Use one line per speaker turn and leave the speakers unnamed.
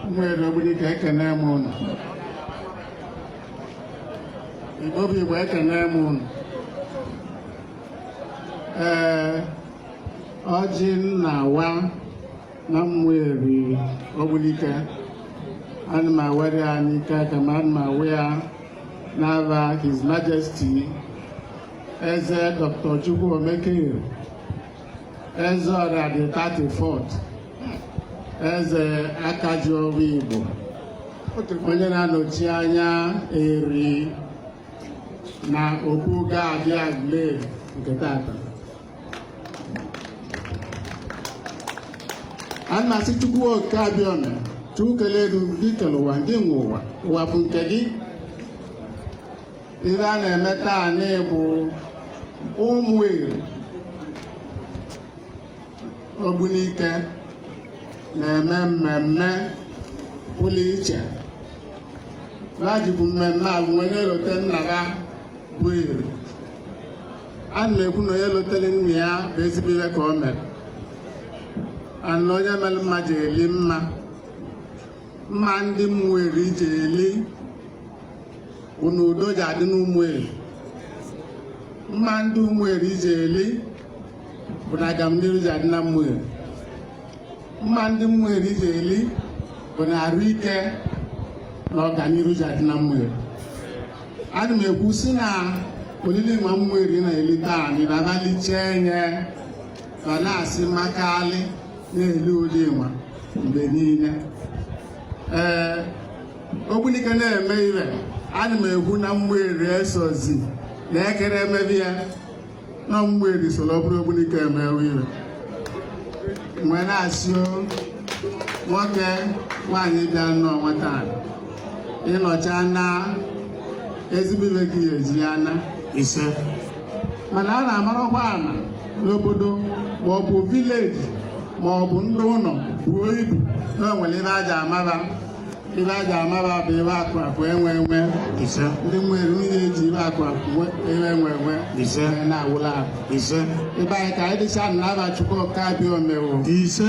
ụmụeri ogbunike ekene m ụnụ igbo bụ igbo ekene m ụnụ ee ọjị m na-awa na ụmụeri ogbunike ana m awere ya n'ike aka m ana m awa ya n'afa His Majesty Eze Dr. Chukwuemeka Eri Ezeọra the 34th Eze Akajiọvọ Igbo onye na-anọchi anya eri na Obuga dị Agụleri nke tata a na-asị Chukwu oke abịama Chukwu kelee gị gị kere ụwa gị nwe ụwa ụwa bụ nke gị ihe a na-eme taanị bụ ụmụ eri ogbunike na-eme mmemme pụrụ iche ha jikwu mmemme a wee na-elote nna ha bụ eri ana m ekwu na onye lotere nna ya bụ ezigbo ihe ka o mere na onye mere mma je-eli mma mma ndị ụmụeri je-eli bụ na udo ja-adị n'ụmụeri mma ndị ụmụeri je-eli bụ na agamniru ja-adị na ụmụeri mma ndị ụmụeri je-eli bụ na arụ ike na ọganihu ja-adị na ụmụeri ana m ekwusi na olili nwa ụmụeri na-eli taanị na-abalị chee nye ma na-asị maka alị na-eli olili nwa mgbe niile ee ogbunike na-eme ihe ana m ekwu na ụmụeri esozi na ekere emebi ya na ụmụeri soro obodo ogbunike emewe ihe m wee na-asị nwoke nwaanyị bịa nnọọ nwata ị nọchaa na ezigbo ibe gị eji ya na ise mana a na-amarakwa na n'obodo ma ọ bụ vileji ma ọ bụ ndị ụlọ buo ibu na o nwere ebe a ja-amaba ebe a ga-amaba bụ ebe akụ akụ enwe enwe ise ndị ụmụeri niile eji ebe akụ akụ ebe enwe enwe ise na-awụla ise ibe anyị ka anyị dịcha na afa chukwu oke abịama o ise